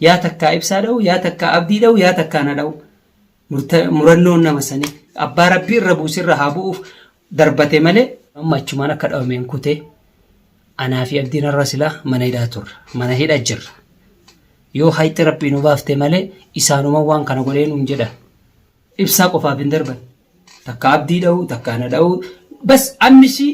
Yaa takkaa ibsaa dha'u, yaa takkaa abdii dha'u, yaa takkaa na dha'u. Murta- Murannoon nama sanii abbaa rabbii irra buuse irra haa bu'uuf darbate malee amma achumaan akka dhawameen kutee anaa fi abdiin irra silaa mana hidhaa turra. Mana hidha jirra. Yoo hayxi rabbii nu baafte malee isaanuma waan kana godhee nuun jedha. Ibsaa qofaaf hin darban. Takka abdii dha'u, takka na dha'u. Bas annisii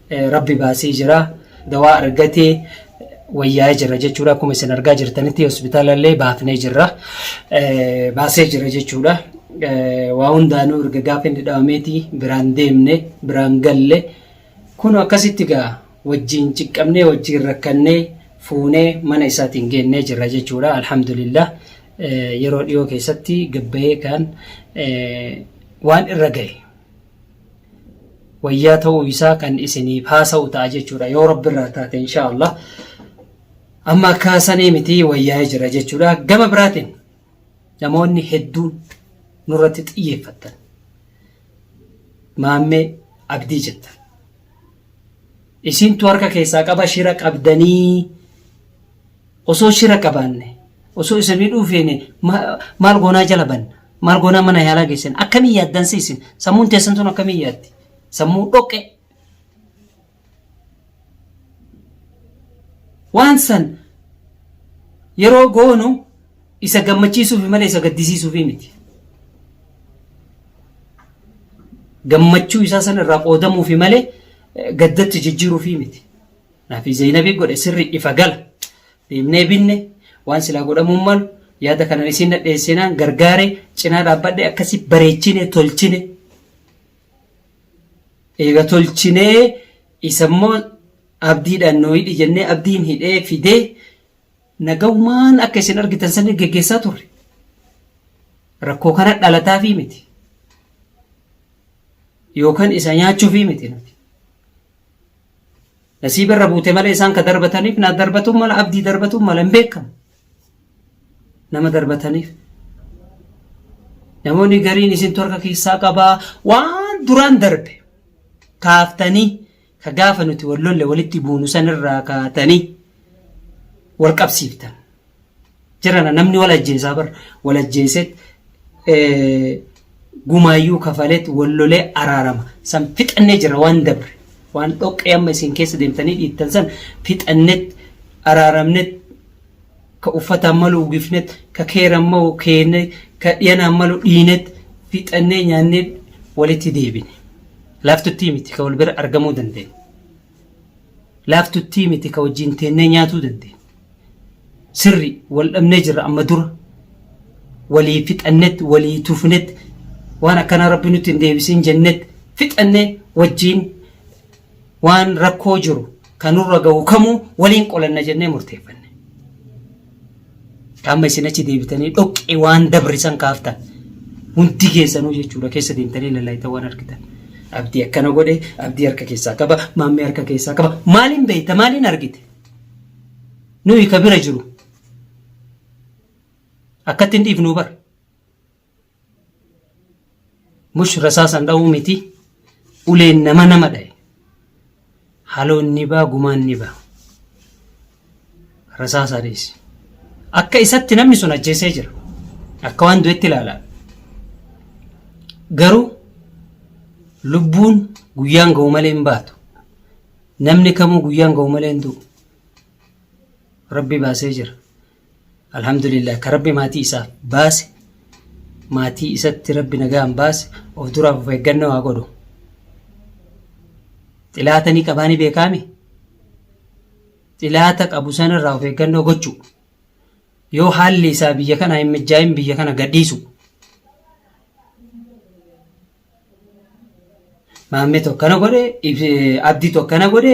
Rabbi baasee jira. Dawaa argatee wayyaa'ee jira jechuudha. Akkuma isin argaa jirtanitti hospitaalallee baafnee jirra. Baasee jira jechuudha. Waa hundaanuu erga gaafa inni dhawameeti biraan deemne biraan galle kun akkasitti gaa wajjin ciqqabnee wajjin rakkannee fuunee mana isaatiin geennee jirra jechuudha. Alhamdulillah yeroo dhiyoo keessatti gabbayee kan waan irra gahe wayyaa ta'uu isaa kan isiniif haasa'u ta'a jechuudha yoo rabbi irraa taate insha Allah amma akka sanii miti wayyaa'ee jira jechuudha gama biraatiin namoonni hedduun nurratti xiyyeeffatan maammee abdii jettan isintu harka keessaa qaba shira qabdanii Osoo shira qabaanne, osoo isa miidhuu feene ma- maal goonaa jala banna? Maal goonaa mana yaalaa geessina? Akkamiin yaaddan siisin? Sammuun teessan tun akkamiin yaaddi? Sammuu dhoqqee. Waan san yeroo goonu isa gammachiisuufi malee isa gaddisiisuufi miti. Gammachuu isaa san irraa qoodamuufi malee eh, gaddatti jijjiiruufi miti. Nafi Zeynabi godhe sirri ifa gala. Deemnee binne waan silaa godhamuun malu yaada kanan isiin nadheessinaan gargaare cinaa dhaabbadhe akkasi bareechine tolchine. Eega tolchinee isammoo abdiidhaan nuu hidhi jennee abdiin hidhee fidee nagaumaan akka isin argitan sanii geggeessaa turre. Rakkoo kana dhalataafii miti. Yookaan isa nyaachuufii miti nuti. Nasiiba irra buute malee isaan ka darbataniif na darbatuun mala abdii darbatuun mala hin beekamu. Nama darbataniif. Namoonni gariin isintu harka keessaa qabaa waan duraan darbe kaaftanii ka gaafa nuti wal lolle walitti buunu sanirraa kaatanii wal qabsiiftan. jirana namni wal ajjeesaa bar wal ajjeeseet gumaayyuu kafaleet wal lolee araarama san fixannee jira waan dabre waan dhoqqee amma isin keessa deemtanii dhiittan san fixannet araaramnet ka uffataan malu ugifnet ka keeran mau keenne ka dhiyanaan malu dhiinet fixannee nyaannee walitti deebine laaftuttii miti ka wal bira argamuu dandeenya. Laaftuttii miti ka wajjiin teennee nyaatuu dandeenyu. Sirri, wal dhabnee jirra amma dura. Walii fixannet, walii tufnet, waan akkanaa Rabbi nutti hin deebisin jennet fixannee wajjiin waan rakkoo jiru ka nurra gahu kamuu waliin qolanna jennee murteeffanne. Amma isin achi deebitanii dhoqqee waan dabre san kaaftan. Hundi keessanuu jechuudha keessa deemtanii lallaaytan waan argitan. Abdii akkana godhe, abdii harka keessaa qaba, maammee harka keessaa qaba. Maaliin beekta, maaliin argite? Nuyi ka bira jiru. Akkatti hin dhiifnu bara. Mush rasaasan dha'uu miti uleen nama nama dha'e. Haloon ni baa gumaan ni baa. Rasaasaa dhiisi. Akka isatti namni sun ajjeesee jira. Akka waan du'etti ilaalaa. Garuu lubbuun guyyaan ga'u malee hin baatu. Namni kamuu guyyaan ga'u malee hin du'u. Rabbi baasee jira. Alhamdulillah ka rabbi maatii isaaf baase maatii isatti rabbi nagaan baase of duraaf of eeggannoo haa godhu. Xilaata ni qabaa ni beekaami. Xilaata qabu sanarraa of eeggannoo gochuu. Yoo haalli isaa biyya kana hin mijjaa'in biyya kana gadhiisu. Maammee tokkana godhe, abdii tokkana godhe,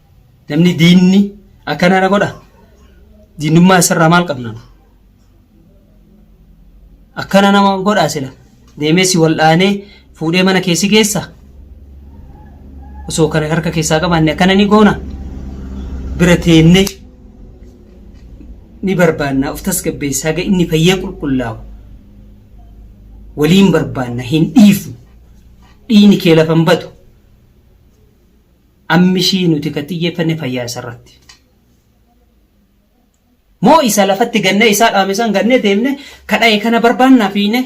Namni diinni akkana na godha. Diinnummaa isarraa maal qabna? Akkana nama godhaa sila. Deemee si wal'aanee fuudhee mana keessi keessa. Osoo kana harka keessaa qabaanne akkana ni goona. Bira teennee ni barbaanna of tasgabbeessaa haga inni fayyee qulqullaa'u. Waliin barbaanna hin dhiifnu. Dhiini kee lafa hin batu. Ammishii nuti kan xiyyeeffanne fayyaa isarratti. Moo isa lafatti gannee isaa dhaame san gannee deemne kadhaye kana barbaannaa fiine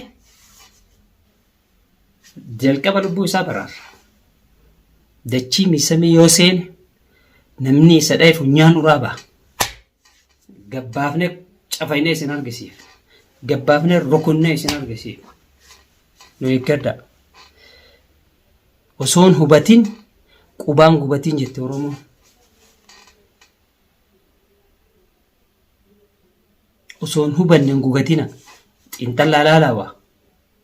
jalqaba lubbuu isaa baraarra. Dachii miisamee yoo seene namni isa dhaye funyaan uraa ba'a. Gabbaafnee cafaynee isin argisiif. Gabbaafnee rukunnee isin argisiif. Nu eeggadhaa. Osoon hubatin qubaan gubatiin jette Oromoon. Osoon hubanne hin gugatina. Xiinxallaa laalaa waa.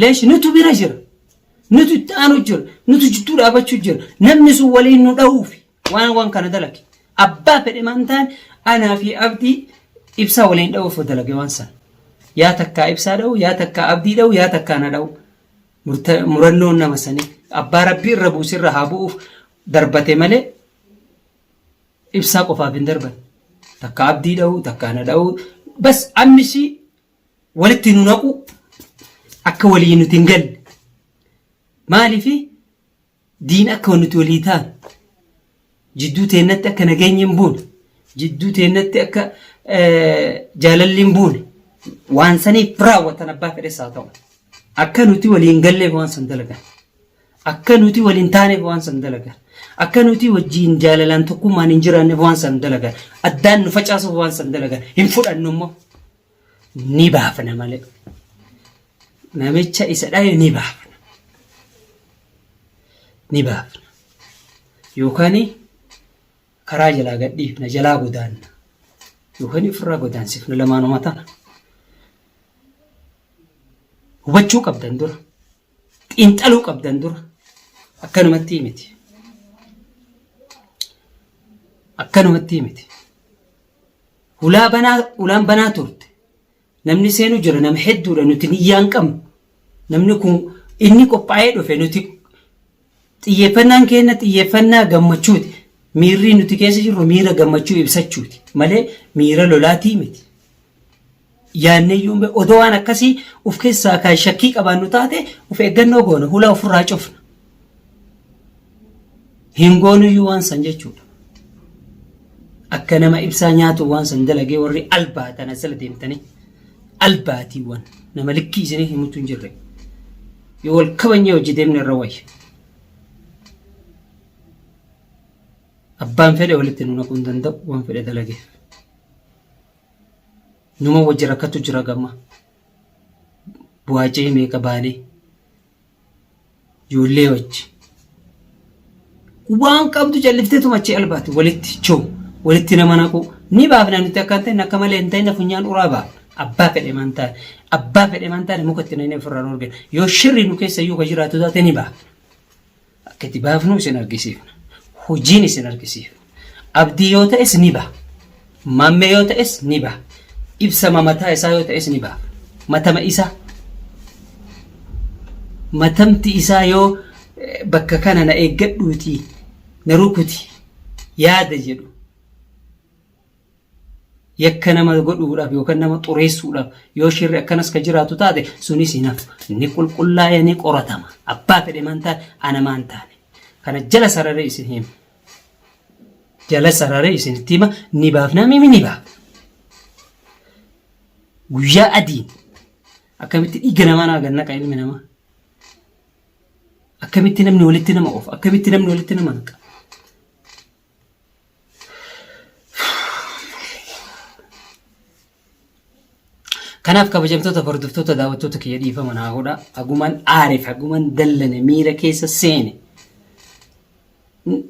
Leesh nutu bira jira. Nutu itti aanu jira. Nutu jidduu dhaabachuu jira. Namni sun waliin nu dha'uuf waan waan kana dalage. Abbaa fedhe maan ta'an anaa fi abdii ibsaa waliin dha'uuf dalage waan sana. Yaa takkaa ibsaa dha'u, yaa takkaa abdii dha'u, yaa takkaa na dha'u. Murta- Murannoon nama sanii abbaa rabbii irra buusi irra haa bu'uuf darbate malee ibsaa qofaaf hin darban. Takka abdii dha'u, takka na dha'u. Bas ammisi walitti nu naquu akka walii nuti hin galle maaliif diin akka nuti walii taanu jidduu teennatti akka nageenyi hin buune jidduu teennatti akka jaalalli hin buune waan saniif raawwatan abbaa fedhes haa ta'u akka nuti walii hin galleef waan san dalagan akka nuti waliin taaneef waan san dalagan akka nuti wajjiin jaalalaan tokkummaan hin jiraanneef waan san dalagan addaan nu facaasuuf waan san dalagan hin fudhannu immoo ni baafna malee namicha isa dhaye ni baafna ni baafna yookaan karaa jalaa gadhiifna jalaa godaanna yookaan ofirraa godaansifna lamaanuma tana hubachuu qabdan dura xiinxaluu qabdan dura akkanumatti miti akkanumatti miti Hulaa banaa hulaan banaa turte. Namni seenu jira nama hedduudha nuti niyyaan qabnu. Namni kun inni qophaa'ee dhufe nuti xiyyeeffannaan keenya xiyyeeffannaa gammachuuti. Miirri nuti keessa jirru miira gammachuu ibsachuuti malee miira lolaatii miti. yaanneyyuu hin beeknu. Odoo waan akkasii uf keessaa kan shakkii qabaannu taate uf eeggannoo goona, hula ofirraa cufna. Hin goonuyyuu waan san jechuudha. Akka nama ibsaa nyaatu waan san dalagee warri albaa tana sila deemtanii albaatiiwwan nama likkii isinii himutu hin jirre. Yoo wal kabanyee hojii deemne irra wayya. Abbaan fedhe walitti nu naquu hin danda'u waan fedhe dalageef. Numa wajji rakkatu jira gamma. Bu'aacee meeqa baalee. Ijoollee wajji. Waan qabdu calliftee tumachee albaati walitti choo walitti nama naqu ni baafna nuti akka hin ta'in akka malee hin ta'in funyaan uraa ba'a. Abbaa fedhe man taane abbaa fedhe man taane muka itti naqnee ofirraa nu argina. Yoo shirri nu keessa iyyuu ka jiraatu taate ni baafna. Akka itti baafnu isin argisiifna. Hojiin isin argisiifna. Abdii yoo ta'es ni baha. Maammee yoo ta'es ni baha. Ibsama mataa isaa yoo ta'es ni baha. Matama isaa. Matamti isaa yoo bakka kana na eeggadhuutii na rukuti yaada jedhu yakka nama godhuudhaaf yookaan nama xureessuudhaaf yoo shirri akkanas ka jiraatu taate sunis hin hafu. Ni qulqullaa'ee ni qoratama. Abbaa fedhe maan taane ana maan taane. Kana jala sararee isin hima. Jala sararee isinitti hima ni baafnaa mimi ni baafna. Guyyaa adiin akkamitti dhiiga namaa naa gannaqa ilmi namaa. Akkamitti namni walitti nama oofa. Akkamitti namni walitti nama naqa. Kanaaf kabajamtoota hordoftoota daawwattoota kiyya dhiifama naa godha. Haguman aarif, haguman dallane miira keessa seene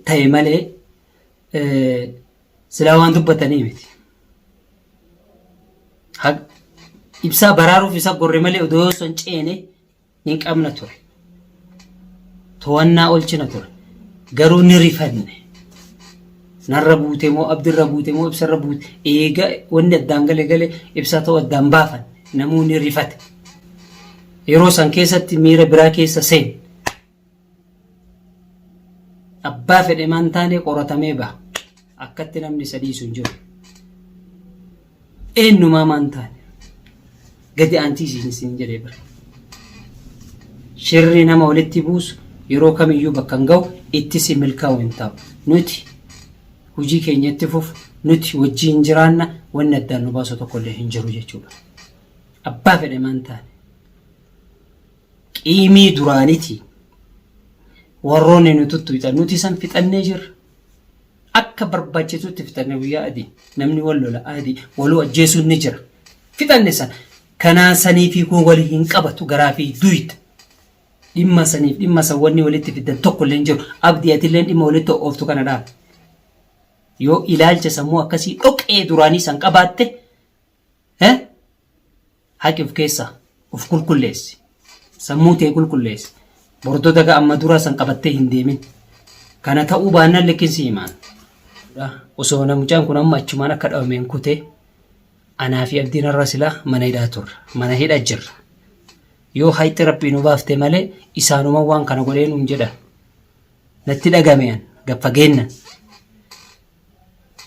ta'e malee silaa waan dubbatanii miti. Ibsaa baraaruuf isa gorre malee odoo yoo san ceene hin qabna ture. To'annaa olchina ture. Garuu ni rifanne. Narra buute moo abdirra buute moo ibsarra buute eega wanni addaan gale gale ibsaa ta'uu addaan baafan namoonni rifate. Yeroo san keessatti miira biraa keessa seen. Abbaa fedhe maan taanee qoratamee baha. Akkatti namni isa dhiisu hin jiru. Eenyumaa maan taane. Gadi aantii isin isin jedhee bara. Shirri nama walitti buusu yeroo kamiyyuu bakka hin ga'u itti si milkaa'u hin ta'u. Nuti hojii keenya itti fufu nuti wajjin jiraanna wanni addaan nu baasu tokkollee hin jiru jechuudha. Abbaa fedhe maan taane. Qiimii duraaniti warroonni nu tuttuyxan nuti san fixannee jirra. Akka barbaachisutti fixanne guyyaa adii namni wal lola adii waluu ajjeesuun ni jira. Fixanne san kanaa sanii fi kun wali hin qabatu garaa fi duyda. Dhimma saniif dhimma san wanni walitti fiddan tokko illee hin jiru. Abdii atilleen dhimma walitti ooftu kana dhaabde. Yoo ilaalcha sammuu akkasii dhoqee duraanii san qabaatte He? Haqi of keessaa of qulqulleessi. Sammuu tee qulqulleessi. Bordoo daga amma duraa san qabattee hin deemin. Kana ta'uu baannaan likkin si himaan. Osoo na mucaan kun amma achumaan akka dhabameen kutee anaa fi abdiin har'a silaa mana hidhaa turra. Mana hidha jirra. Yoo hayxi rabbii nu baafte malee isaanuma waan kana godhee nuun jedhan. Natti dhagamean gad fageennan.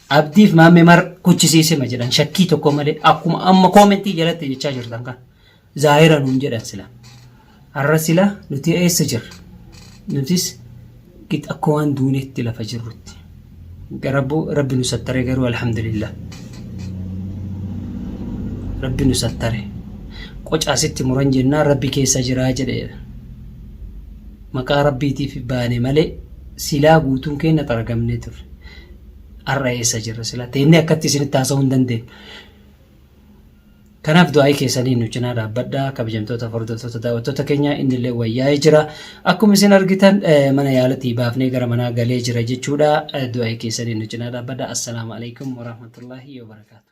Abdiif maammee mar kuchisiisema jedhan shakkii tokko malee akkuma amma koomentii jalatti jechaa jirtan kan zaahira nuun jedhan sila. Har'a sila nuti eessa jirra? Nutis git akka waan duuneetti lafa jirrutti. Garabbu rabbi nu sattare garuu alhamdulillah. Rabbi nu sattare. Qocaasitti muran jennaan rabbi keessa jiraa jedheera. Maqaa Rabbiitiif baane malee silaa guutuun keenya xaragamnee turre. Har'a eessa jirra silaa? Teennee akkatti isinitti haasa'uu hin dandeenyu. Kanaaf du'aa'ii keessaniin nu cinaa dhaabbadhaa kabajamtoota hordoftoota daawwattoota keenya inni illee wayyaa'ee jira. Akkuma isin argitan eh, mana yaalatii baafnee gara manaa galee jira jechuudha. Eh, Du'aa'ii keessaniin nu cinaa dhaabbadhaa. Assalaamu alaikum warahmatullaahi wabarakaatu.